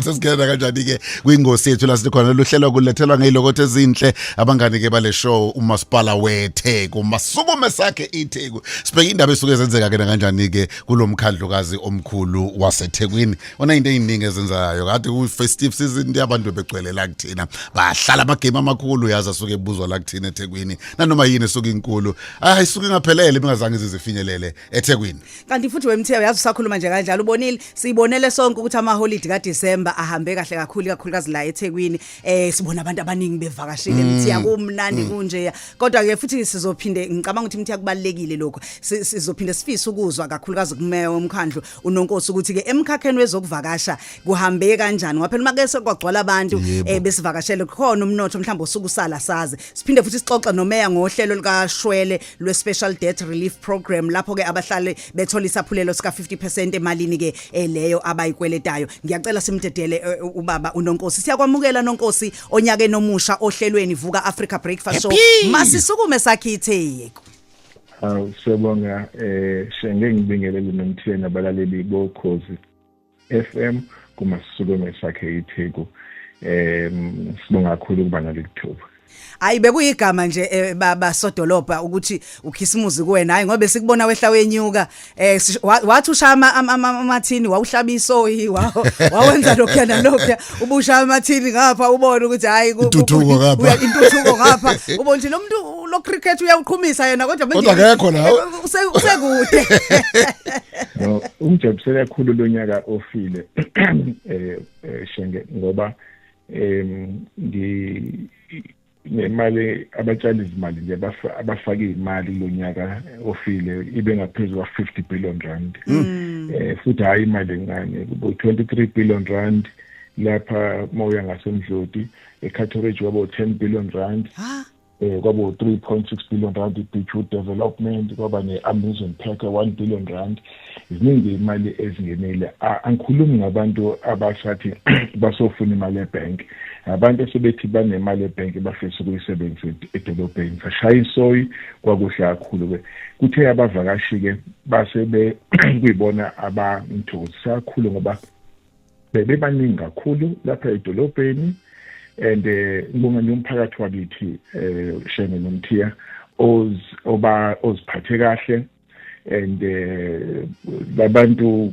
sesingena kanjani-ke kwingosi yethu la sikhona luhlelo kulethelwa ngeyilokotho ezinhle abangani-ke bale show umasipala wetheku masukume sakhe itheku sibheke indaba esuke zenzeka-ke nakanjani-ke kulo mkhandlukazi omkhulu wasethekwini onayinto eyiningi ezenzayo kade kwi-festive season nti abantu begcwele la kuthina bahlala amagame amakhulu yazi asuke ebuzwa la kuthina ethekwini nanoma yini esuke inkulu ayisuke ingaphelele bengazange zizifinyelele ethekwini kanti futhi wemthiya uyazi usakhuluma nje kanjalo ubonile sibonele sonke ukuthi amaholidi kaDecember ahambe kahle kakhulu kakhulukazi la eThekwini eh sibona abantu abaningi bevakashile mthiya mm. kumnandi mm. kunje kodwa ke futhi sizophinde ngicabanga ukuthi mthiya kubalekile lokho sizophinde sifise ukuzwa kakhulukazi kumeya womkhandlu unonkosi ukuthi ke emkhakheni wezokuvakasha kuhambe kanjani ngoba phela make sekwagcwala abantu eh besivakashele khona umnotho mhlawumbe osukusala saze siphinde futhi sixoxe nomeya ngohlelo likashwele lwe-special debt relief program lapho ke abahlale bethola isaphulelo sika 50% emalini ke eh, leyo abayikweletayo ngiyacela simdedele eh, eh, ubaba unonkosi siyakwamukela nonkosi onyake nomusha ohlelweni vuka Africa breakfast show masisukume sakhithe Hawu siyabonga eh sengeke ngibingelele nomtheni abalaleli bokhozi FM kuma sisukume sakhe iTheku em sibonga kakhulu ukuba nalelithuba Hayi bekuyigama nje eh, baba sodolobha ukuthi ukhisimuzi kuwena hayi ngoba sikubona wehla wenyuka eh wathi ushama amathini wawuhlaba isoyi wawo wawenza lokho na lokho ubushama amathini ngapha ubona ukuthi hayi intuthuko ngapha intuthuko ngapha ubona ukuthi lo muntu lo cricket uyawuqhumisa yena kodwa manje kodwa akekho la eh, usekude no ungijabulise kakhulu lo nyaka ofile eh, eh shenge ngoba em ngi nemali abatshali izimali nje abafake imali lo nyaka ofile ibe ngaphezulu kwa 50 billion rand mm. eh futhi hayi imali encane kubo 23 billion rand lapha mawuya ngasemdloti eCatteridge wabo 10 billion rand eh kwabo 3.6 billion rand i-beachwood development kwaba ne-amusement park 1 billion rand ziningi imali ezingenile angikhulumi ngabantu abasathi basofuna imali ebank abantu esebethi banemali ebank bafisa ukuyisebenzisa edolobheni sashaya isoyi kwakuhle kakhulu ke kuthe abavakashi ke base kuyibona abangithokozisa kakhulu ngoba bebebaningi kakhulu lapha edolobheni and eh, ngonga nomphakathi wakithi eh, shenge nomthiya oba oziphathe kahle and eh, labantu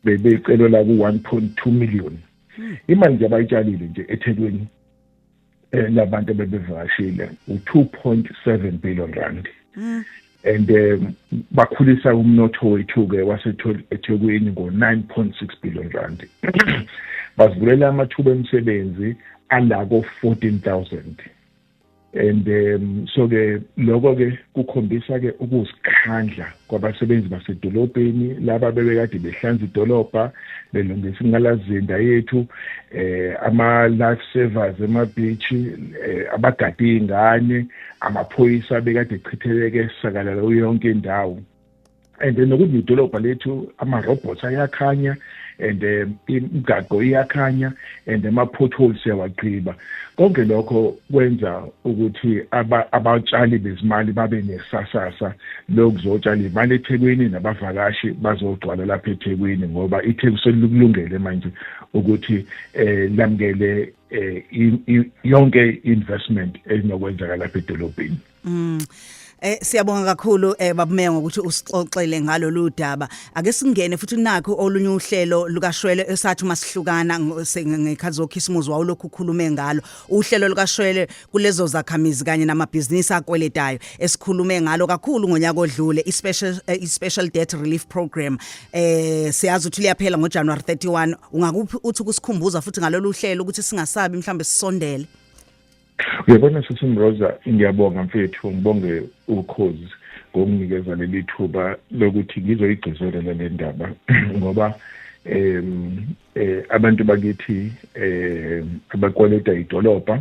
bebecelwa la ku 1.2 million hmm. imali nje abayitshalile nje eThekwini eh, labantu bebevakashile u2.7 billion rand mm. and um, bakhulisa umnotho wethu ke waseThekwini ngo9.6 billion rand bazivulela amathuba emisebenzi alako 14000 and um, so ke lokho ke kukhombisa ke ukuzikhandla kwabasebenzi basedolobheni laba bebekade behlanza idolobha belungisa ingalazinda yethu eh ama life savers ema beach eh, abagade izingane amaphoyisa bekade echitheleke sakalala yonke indawo and then nokuthi idolobha lethu ama robots ayakhanya and eh, imigaqo iyakhanya and ama-potholes siyawagqiba konke lokho kwenza ukuthi abatshali bezimali babe nesasasa lokuzotshala imali ethekwini nabavakashi bazogcwala lapha ethekwini ngoba itheku selikulungele manje ukuthi um lamukele um yonke investment enokwenzakalapha edolobheni Mm. Eh siyabonga kakhulu eh babumeya ngokuthi usixoxele ngalolu daba. Ake singene futhi nakho olunye uhlelo lukashwele esathi masihlukana ngekhathi zokhisimuzi wawulokhu ukhulume ngalo. Uhlelo lukashwele kulezo zakhamizi kanye namabhizinisi akweletayo esikhulume ngalo kakhulu ngonyaka odlule i-special eh, i-special debt relief program. Eh siyazi ukuthi liyaphela ngoJanuary 31. Ungakuphi uthi kusikhumbuza futhi ngalolu hlelo ukuthi singasabi mhlambe sisondele. Uyabona sisi Mroza ngiyabonga mfethu ngibonge ukhozi ngokunginikeza leli thuba lokuthi ngizoyigcizelela le ndaba ngoba em eh, abantu bakithi eh abakweleta idolobha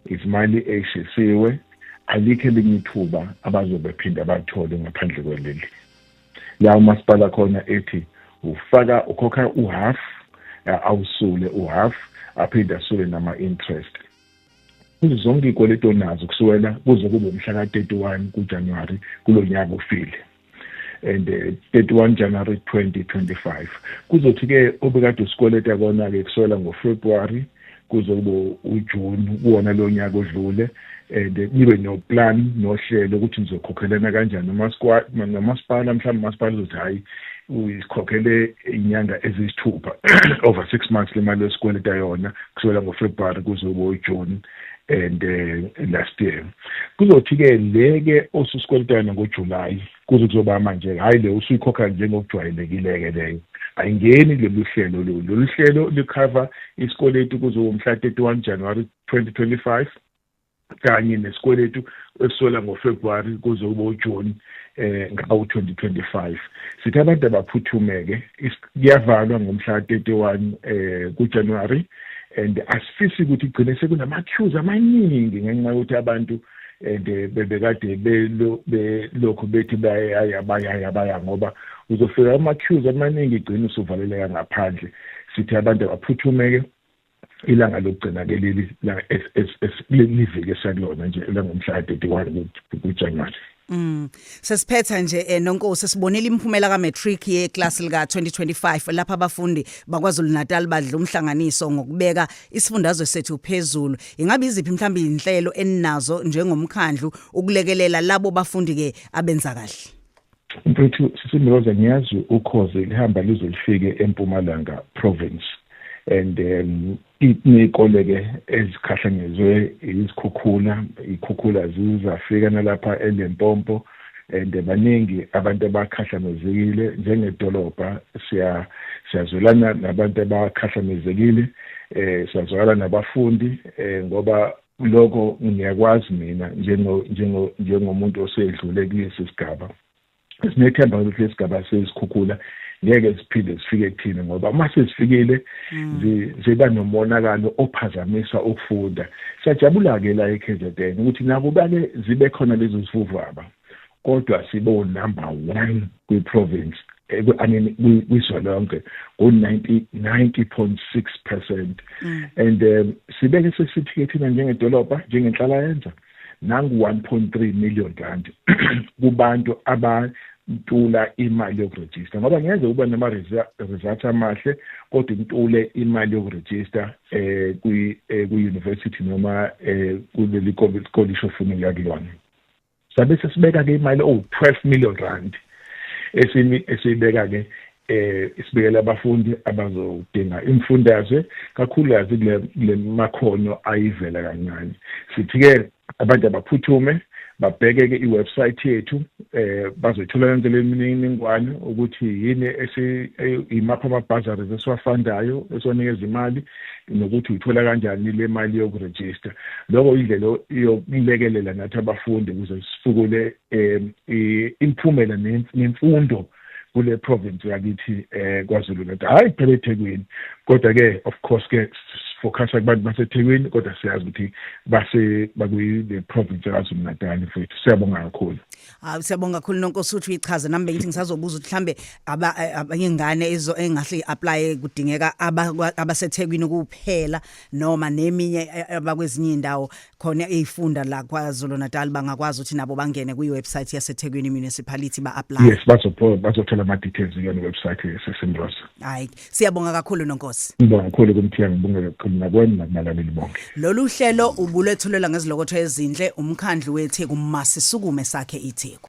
izimali eshisiwe alikho elinye ithuba abazobe phinda bathole ngaphandle kweleli la umasipala khona ethi ufaka ukhokha uhalf awusule uhalf aphinde asule nama-interest kuzo zonke iy'kweletu onazo kusukela kuze kube umhla ka-31 kujanuwari kulo nyaka ufile and 31 eh, January 2025 kuzothi ke obekade usikweleta kona ke kusukela ngoFebruary kuze kube uJune kuwona lo nyaka odlule and eh, nibe noplan nohlelo ukuthi nizokhokhelana kanjani nomasipala mhlawumbe umasipala uzothi hhayi uyikhokhele inyanga eziyisithupha over six months le mali yesikweleta yona kusukela ngofebruwari kuze kube ujune and uh, last year kuzothi-ke le-ke osusikweleta yona ngojulayi kuze kuzoba manje hhayi le usuyikhokha njengokujwayelekile-ke leyo ayingeni lolu hlelo lolu lolu hlelo likhava isikweletu kuze womhla 31 januwari 2025 kanye nesikweletu esisola ngofebruwari kuze kube ujuni eh ngawo-2025 sithi abantu abaphuthume-ke kuyavalwa ngomhla 31 eh kujanuwari and asifisi ukuthi igcine sekunama-queues amaningi ngenxa yokuthi abantu and eh, bebekade belokhu bethi bayaya bayaya baya ngoba uzofika ama-cues amaningi igcina usuvaleleka ngaphandle sithi abantu abaphuthumeke ilanga lokugcina ke leli liviki esakulona nje elangomhla ka-31 kujanuwari Mm. Sesiphetha nje eh, nonkosi sibonile imphumela ka matric ye class lika 2025 lapha abafundi bakwaZulu Natal badla umhlanganiso ngokubeka isifundazwe sethu phezulu. Ingabe iziphi mhlawumbe inhlelo eninazo njengomkhandlu ukulekelela labo bafundi ke abenza kahle? Mfethu sisimloza ngiyazi ukhozi lihamba lize lifike eMpumalanga province and um, Kuney'kole-ke ezikhahlanyezwe izikhukhula, iy'khukhula zize zafika nalapha eLimpopo and baningi abantu abakhahlamezekile. Njengedolobha siyazwelana nabantu abakhahlamezekile, siyazwakala nabafundi ngoba lokho ngiyakwazi mina njengomuntu osedlule kulesi sigaba. sinethemba ukuthi lesigaba sezikhukhula ngeke siphinde sifike kuthini ngoba uma sesifikile hmm. ziba nomonakalo ophazamisa ukufunda siyajabula-ke la e-kzn ukuthi nakubake zibe khona lezo zivuvaba kodwa sibo-number one kwi-province eh, kwizwe lonke ngo-90 point six percent hmm. and um sibeke sesithike thina njengedolobha njengenhlalayenza mm. nangu 1.3 million rand kubantu abantula imali yokurejista ngoba ngeze uba nama results amahle kodwa intule imali yokurejista eh kwi eh, ku university noma eh kuleli college ofuna ukuya kulona sabe sesibeka ke imali owu 12 million rand esimi esibeka ke eh isibekele abafundi abazodinga imfundazwe kakhulukazi kule makhono ayivela kancane sithi ke abantu abaphuthume babheke-ke i-website yethu eh bazoyithola yonke le mininingwane ukuthi yini imaphi ama-bazaries esiwafandayo esiwanikeza imali nokuthi uyithola kanjani le mali yokurejista lokho indlela yokulekelela nathi abafundi ukuze sifukule um imiphumela nemfundo kule province yakithi eh kwaZulu Natal hayi kuphela eThekwini kodwa ke of course ke sifocusa kubantu baseThekwini kodwa siyazi ukuthi base bakuyi the province yaKwaZulu Natal mfethu siyabonga kakhulu hayi siyabonga kakhulu nonkosi uthi uyichaze nami bengithi ngisazobuza ukuthi mhlambe eh, abanye ngane ezo engahle apply kudingeka abaseThekwini kuphela noma neminye eh, eh, abakwezinye indawo khona eyifunda la kwaZulu Natal bangakwazi ukuthi nabo bangene kwi website yaseThekwini Municipality ba apply yes bazopho bazothola ama details kuyona website yeSimros hayi siyabonga kakhulu nonkosi ngibonga kakhulu kumthiya ngibonga kakhulu nakwena nakumalaleli bonke lolu hlelo ubulethulela ngezilokotho ezinhle umkhandlu weTheku masisukume sakhe iTheku